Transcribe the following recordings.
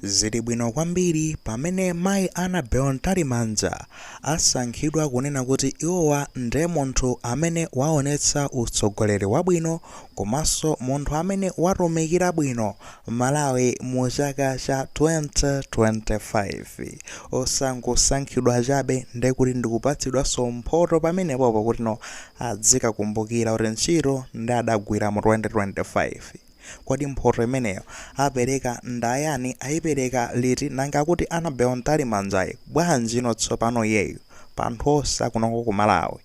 Zili bwino kwambiri pamene Mayi Annabel Mtalimanja asankhidwa kunena kuti iwowa nde munthu amene waonetsa utsogoleri wabwino komanso munthu amene watumikira bwino Malawi mu chaka cha 2025. Osangosankhidwa chabe nde kuti ndikupatsidwanso mphoto pamenepopo kuti no adzikakumbukira kuti ntchito nde adagwira mu 2025. Kodi mphoto imeneyo apereka ndayani, ayipereka liti nanga kuti Annabel Mtalimanjayi bwanjino tsopano iyeyu pa anthu onse akunoko ku Malawi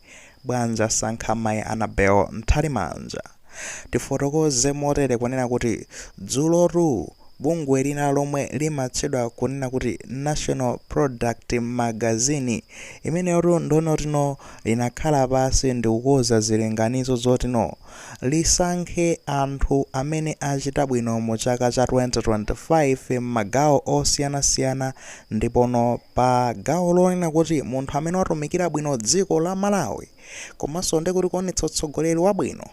bwanji asankha mayi Annabel Mtalimanja? Tifotokoze motere kunena kuti dzulotu bungwe lina lomwe limatchedwa kunena kuti National Product Magazine imeneyotu nde kuti no linakhala pasi ndikukoza zilinganizo zoti no lisankhe anthu amene achita bwino mu chaka cha 2025 m'magawo osiyanasiyana ndipono pa gawo lonena kuti munthu amene watumikira bwino dziko la Malawi komanso nde kuti kuonetsa utsogoleri wabwino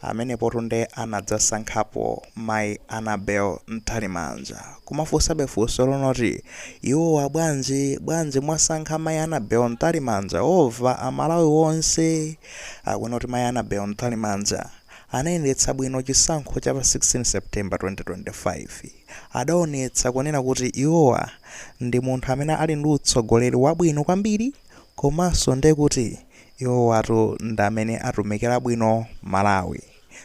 amenepotu nde anadzasankhapo Mai Annabel Mtalimanja. Kumafunsabe funso lonoti iwowa bwanji bwanji mwasankha Mai Annabel Mtalimanja over Amalawi onse? Akunena kuti mayi Annabel Mtalimanja anayendetsa bwino chisankho cha pa 16 September 2025. Adaonetsa kunena kuti iwowa ndi munthu amene ali ndi utsogoleri wabwino kwambiri komanso nde kuti iwowatu ndi amene atumikira bwino Malawi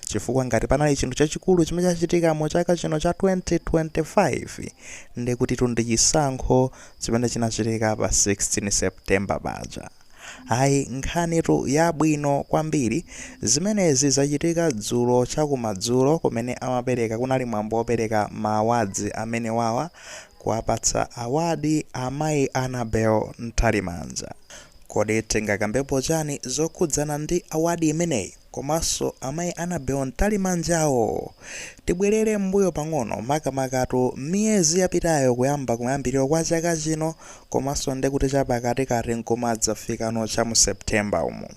chifukwa ngati panali chinthu chachikulu chimene chachitika mu chaka chino cha 2025 ndekutitu ndi chisankho chimene chinachitika pa 16 September paja. Ayi, nkhanitu yabwino kwambiri! Zimenezi zachitika dzulo chakumadzulo. Kumene amapereka kunali mwambo wopereka ma awards amenewawa, kuwapatsa award amayi Annabel Mtalimanja. Kodi tingakambepo chani zokhudzana ndi award imeneyi? komanso amayi Annabel Mtalimanjawo. Tibwerere mmbuyo pang'ono makamakatu mmiyezi yapitayo kuyamba kumayambiriro kwa chaka chino komanso ndekuti chapakatikati n'kumadzafikano cha mu September umo.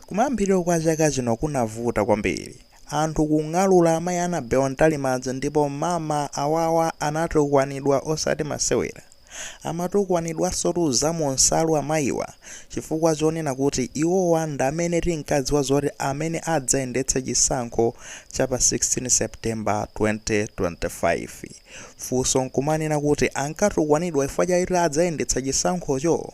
Kumayambiriro kwa chaka chino kunavuta kwambiri. Anthu kung'alula amayi Annabel Mtalimanja ndipo mama awawa anatukwanidwa osati masewera. Amatukwanidwansotu za mu nsalu amayiwa chifukwa chonena kuti iwowa ndi amene tinkadziwa zoti amene adzayendetsa chisankho cha pa 16 September 2025. Funso n'kumanena kuti ankatukwanidwa chifukwa chakuti adzayendetsa chisankhocho?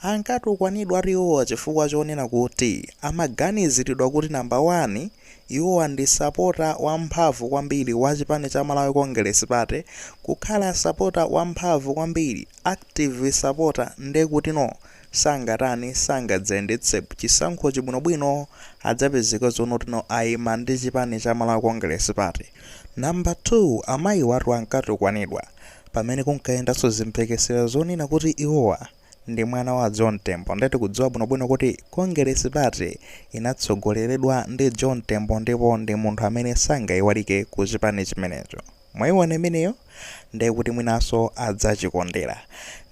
Ankatukwanidwatu iwowa chifukwa chonena kuti amaganiziridwa kuti number 1, Iwowa ndi sapota wamphamvu kwambiri wa chipani cha Malawi Congress Party, kukhala sapota wamphamvu kwambiri, active sapota, nde kuti no sangatani, sangadzayendetse chisankhochi bwino bwino, adzapezeka zonena kuti no ayima ndi chipani cha Malawi Congress Party. Number 2, amayiwatu ankatukwanidwa pamene kunkayendanso zimphekesera zonena kuti iwowa, ndi mwana wa John Tembo nde tikudziwa bwinobwino kuti Kongeresi Pate inatsogoleredwa ndi John Tembo ndipo ndi munthu amene sangaiwalike ku chipani chimenecho. Mwaiona imeneyo? Nde kuti mwinanso adzachikondera.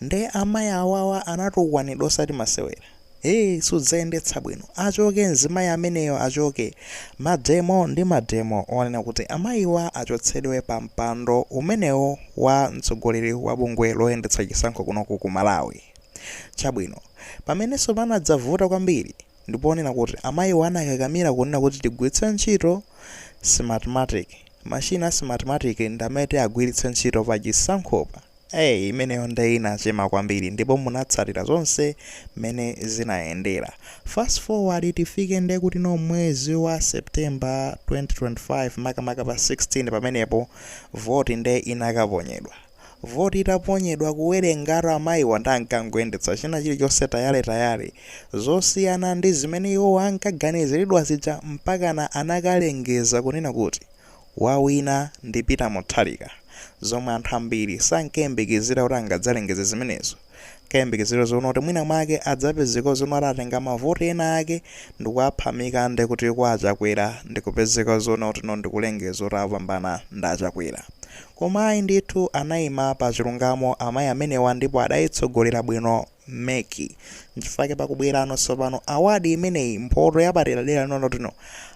Nde amayi awawa anatukwanidwa osati masewera. Eee sudzayendetsa bwino. Achoke mzimayi ameneyo achoke. Mademo ndi mademo onena kuti amayiwa achotsedwe pa mpando umenewo wa mtsogoleri wa bungwe loyendetsa chisankho kunoko ku Malawi. Chabwino, pamenenso panadzavuta kwambiri ndi ponena kuti amayiwa anakakamira kunena kuti tigwiritse ntchito Smartmatic, machine a Smartmatic ndi amene tiagwiritse ntchito pa chisankhopa. Eee imeneyo nde inachema kwambiri ndipo munatsatira zonse mmene zinayendera. Fast forward tifike nde kuti no mwezi wa September 2025 makamaka pa 16 pamenepo vote nde inakaponyedwa. Vote itaponyedwa kuwerengatu amayiwa nde ankangoyendetsa china chilichonse tayale tayale zosiyana ndi zimene iwowa ankaganiziridwa zija mpakana anakalengeza kunena kuti. Wawina ndi Peter Mutharika zomwe anthu ambiri sankayembekezera kuti angadzalengeze zimenezo. Ankayembekezera zonena kuti mwina mwake adzapezeka zonena kuti atenga mavoti ena ake ndikuwaphamika ndekuti kwa a Chakwera ndikupezeka zonena kuti no ndikulengeza kuti apambana ndi a Chakwera. Koma ayi ndithu anayima pachilungamo amayi amenewa ndipo adayitsogolera bwino. mec nchifukwa chake pakubwerano tsopano award imeneyi mphoto yapaderadera yonena kuti no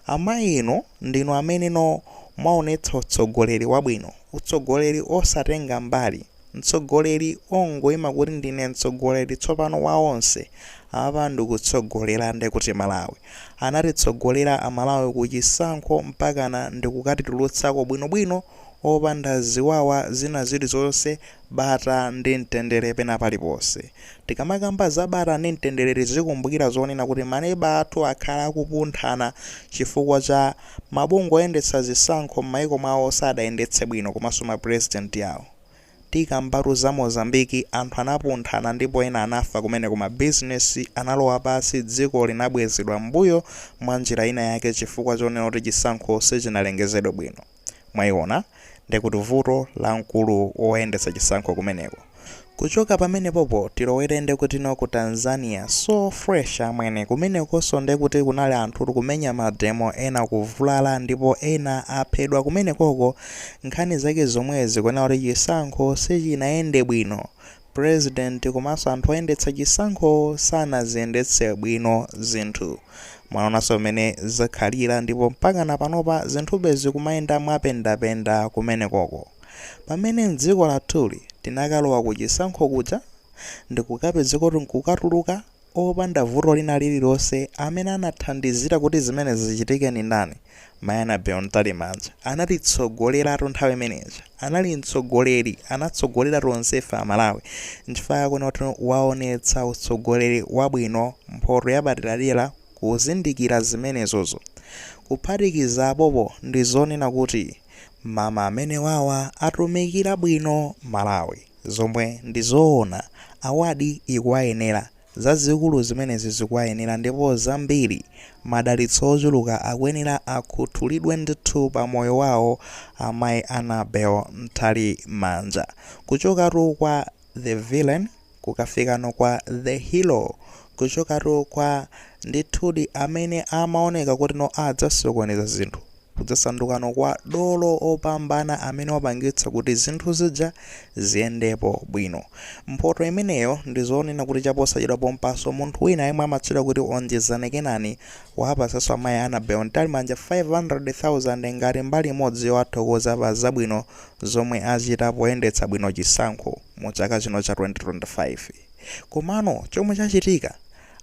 amayi inu ndinu amene no mwaonetsa utsogoleri wabwino utsogoleri osatenga mbali mtsogoleri ongoima kuti ndine mtsogoleri tsopano wa onse apa ndikutsogolera ndekuti malawi anatitsogolera amalawi ku chisankho mpakana ndikukatitulutsako bwinobwino opanda ziwawa zina zilizonse Bata ndi mtendere pena paliponse. Tikamakamba za bata ndi mtendere tizikumbukira zonena kuti maneba athu akhala akupunthana chifukwa cha mabungwe oyendetsa zisankho m'maiko mwawo sadayendetse bwino komanso ma president awo. Tikambatu za Mozambique anthu anapunthana ndipo ena anafa kumeneko ma business analowa pansi dziko linabwezedwa m'mbuyo mwa njira ina yake chifukwa chonena kuti chisankho sichinalengezedwe bwino. Mwayiona? Ndi kuti vuto la mkulu woyendetsa chisankho kumeneko. Kuchoka pamenepopo tilowere ndi kuti no ku Tanzania, so fresh amwene, kumenekonso ndi kuti kunali anthu kumenya mademo ena kuvulala ndipo ena aphedwa kumenekoko nkhani zake zomwezi kunena kuti chisankho sichinayende bwino President komanso anthu oyendetsa chisankho sanaziyendetse bwino zinthu. Mwaonanso mmene zakhalira ndipo mpakana panopa zinthube zikumayenda mwapendapenda kumenekoko. Pamene m'dziko lathuli tinakalowa kuchisankho kuja ndikukapezeka kuti nkukatuluka, opanda vuto lina lililonse amene anathandizira kuti zimenezi zichitike ndi ndani? Mayi Annabel Mtalimanja anatitsogoleratu nthawi imene ija. Anali mtsogoleri, anatsogolera tonsefe Amalawi. Nchifukwa chake kuona kuti waonetsa utsogoleri wabwino, mphoto yapaderadera kuzindikira zimenezozo. Kuphatikiza apopo ndi zonena kuti mama amenewawa atumikira bwino Malawi. Zomwe ndi zoona. Award ikuwayenera. Zazikulu zimenezi zikuwayenera ndipo zambiri. Madalitso ochuluka akuyenera akhuthulidwe ndithu pa moyo wawo Amayi Annabel Mtalimanja. Kuchokatu kwa The Villain kukafikano kwa The Hero. Kuchokatu kwa ndithudi amene amaoneka kuti no adzasokoneza zinthu. kudzasandukano kwa dolo opambana amene wapangitsa kuti zinthu zija ziyendepo bwino. Mphoto imeneyo ndi zonena kuti chaposachedwa pompanso munthu wina yemwe amatchedwa kuti Onjezani Kenani wapatsanso amayi Annabel Mtalimanja 500,000 ngati mbali imodzi yowathokoza pa zabwino zomwe achita poyendetsa bwino chisankho mu chaka chino cha 2025. Komano chomwe chachitika,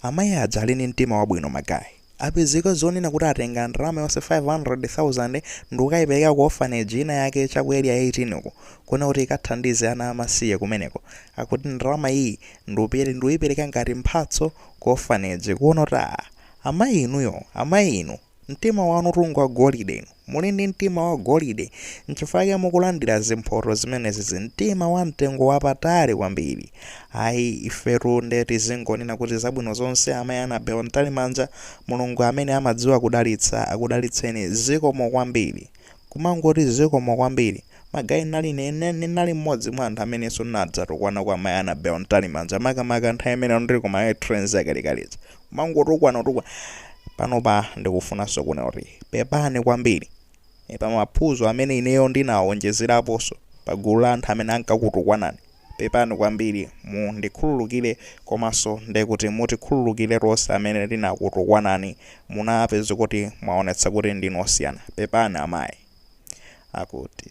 amayi aja ali ndi mtima wabwino magayi. Apezeka zonena kuti atenga ndalama yonse 500,000 ndikukayipereka ku orphanage ina yake cha ku area 18 uko kunena kuti ikathandize ana amasiye kumeneko. Akuti ndalama iyi ndikuyipereka ngati mphatso ku orphanage kuona kuti aah amayi inuyo amayi inu mtima wanutu ngwa golide inu. Muli ndi mtima wagolide. N'chifukwa chake mukulandira zimphoto zimenezi. Mtima wamtengo wapatali kwambiri. Ayi, ifetu nde tizingonena kuti zabwino zonse Amayi Annabel Mtalimanja. Mulungu amene amadziwa kudalitsa akudalitseni. Zikomo kwambiri. Kumangoti zikomo kwambiri. Magayi ndinali, ndinali mmodzi mwa anthu amenenso ndinadzatukwana kwa Amayi Annabel Mtalimanja makamaka nthawi imene ndili ku Mayo Trains yakalekale ija. kumangotukwana kutukwana panopa ndikufunanso kunena kuti pepani kwambiri e, pa maphunzo amene ineyo ndinawonjezeraponso pa gulu la anthu amene ankakutukwanani pepani kwambiri mundikhululukire komanso ndekuti mutikhululukire tonse amene tinakutukwanani munapeza kuti mwaonetsa kuti ndinu osiyana pepani amayi akuti